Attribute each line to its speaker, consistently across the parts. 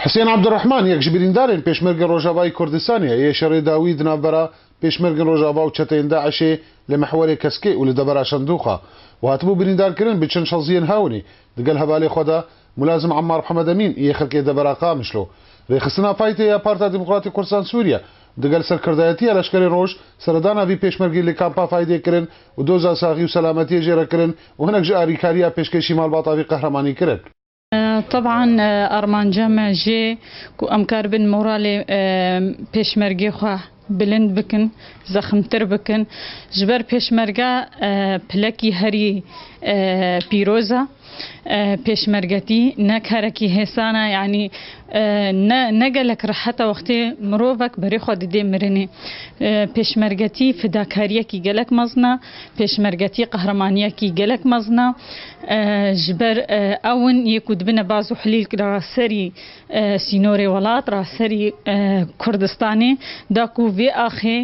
Speaker 1: Hisên Abdurehman yek ji birîndarên Pêşmergên Rojavayî Kurdistanê ye, yê şerê dawî di navbera Pêşmergên Rojava û çeteyên DAIŞ'ê li mihwerê Keskê û li devera Şendûxa û hatibû birîndarkirin bi çend şaziyên hewnî digel hevalê xwe de Mulazim Emmar Mhemed Emîn yê xirkê devera Qamişlo Rêxistina faytê ya Parta Demokratî Kurdisan Sûriye û digel serkirdayetiya leşkerên roj seredana vî pêşmergî li kampa Faydê kirin û doza saxî û selametiyê jê re kirin û hinek ji alîkariya pêşkêşî malbata vî qehremanî kirin. Teb'an
Speaker 2: armanca me jê ku em kar bin moralê pêşmergê xwe bilind bikin, zexmtir bikin. Ji ber pêşmerge pilekî herî pîroz e. Pêşmergetî ne karekî hêsan e yanî ne ne gelek rehet e wextê mirovek berê xwe didê mirinê. Pêşmergetî fidakariyekî gelek mezin e. Pêşmergetî qehremaniyekî gelek mezin e. Ji ber ew in yê ku dibine baz û hilîlk ra serî sînorê welat ra, serî Kurdistanê da ku vê axê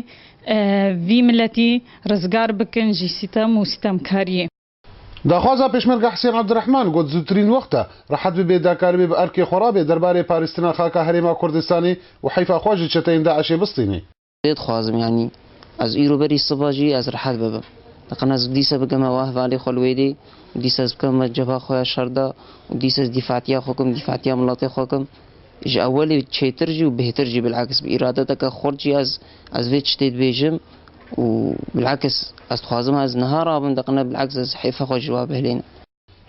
Speaker 2: vî miletî rizgar bikin ji sîtem û sîtemkariyê. Daxwaza
Speaker 1: Pêşmerge Hisên Abdirehman got zûtirîn wext e rehet bibe dakar bê bi erkê xwe re be derbarê parîstina xaka herêma Kurdistanê û heyfa xwe ji çeteyên DAIŞ'ê bistînê. Lê dixwazim yanî
Speaker 3: ez îro berî siba jî ez rehet bibim. Diqin ez dîsa bikim hewa hevalê xwe li wê dê û dîsa ez bikim me cebha xwe ya şer de û dîsa ez dîfatiya xwe bikim, dîfatiya miletê xwe bikim. Ji ewelê çêtir jî û bêhtir jî bil'aks bi îradeteke xurt jî ez ez vê tiştê dibêjim û bil'aks ez dixwazim ez niha rabim diqin bil'aks ez hêfa xwe ji we bihêlînim.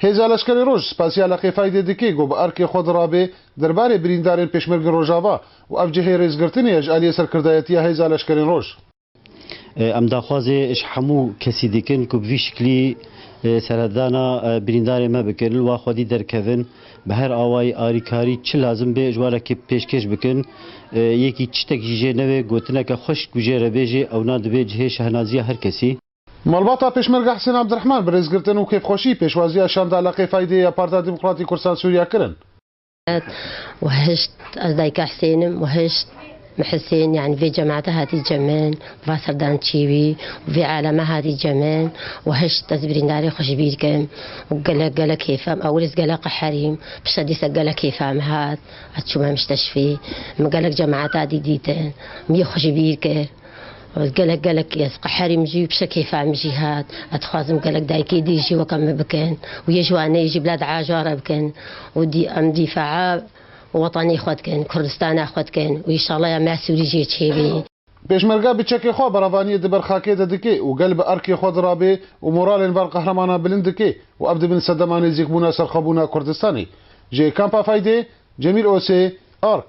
Speaker 3: Hêza Leşkerê
Speaker 1: Roj, Spasiyala Qêfaydê Dikê got bi erkê xwe di rabê derbarê birîndarên Pêşmergên Rojava û ev cihê rêzgirtinê ye ji aliyê Serkirdayetiya Hêza Leşkerên Roj. Em
Speaker 4: daxwazê ji hemû kesî dikin ku bi vî şiklî serhedana birîndarên me bikin li wa xwedî derkevin bi her awayî arîkarî çi lazim bê ji wan re pêşkêş bikin. Yekî tiştek jî jê nebe gotineke xweşik ku jê re bê jê ewna dibê cihê şehnaziya her kesî. Malbata
Speaker 1: Pêşmerge Hisên Abdirehman bi rêzgirtin û kêfxweşî pêşwaziya şanda Leqê Faydê ya Partiya Demokratîk Kurdistan Sûriya kirin.
Speaker 5: Wahişt, Ez dayika Hisên im. Wahişt, Me Hisên yanî vê cemata hatî cemin, bi va serdan çîwî û vê alama hatî cemin. Wahişt, Ez birîndarê xwe ji bîr kim û gelek gelek kêfa min. Ewil ez gelek qeherîm. Pişta dîsa gelek kêfa min hat. Ez çûme misteşfî. Min gelek cemata dî dîtin. Min yê xwe ji bîr kir. Gelek gelek ez qeherî min jî piştre kêfa min jî hat. Ez dixwazim gelek dayikê dî jî weka min bikin û yê ji wan neyê jî bila diaja re bikin û dî em dîfaa wetanê xwe dikin, Kurdistana xwe dikin û îşalaya me sûrî jê çêbî. Pêşmerga bi
Speaker 1: çekê xwe beravaniyê di ber xakê de dike û gel bi erkê xwe di rabê û moralên van qehremanan bilind dike û ev dibin sedema nêzîkbûna serxwebûna Kurdistanê. Ji Kampa Faydê, Cemîl Osê, Ark.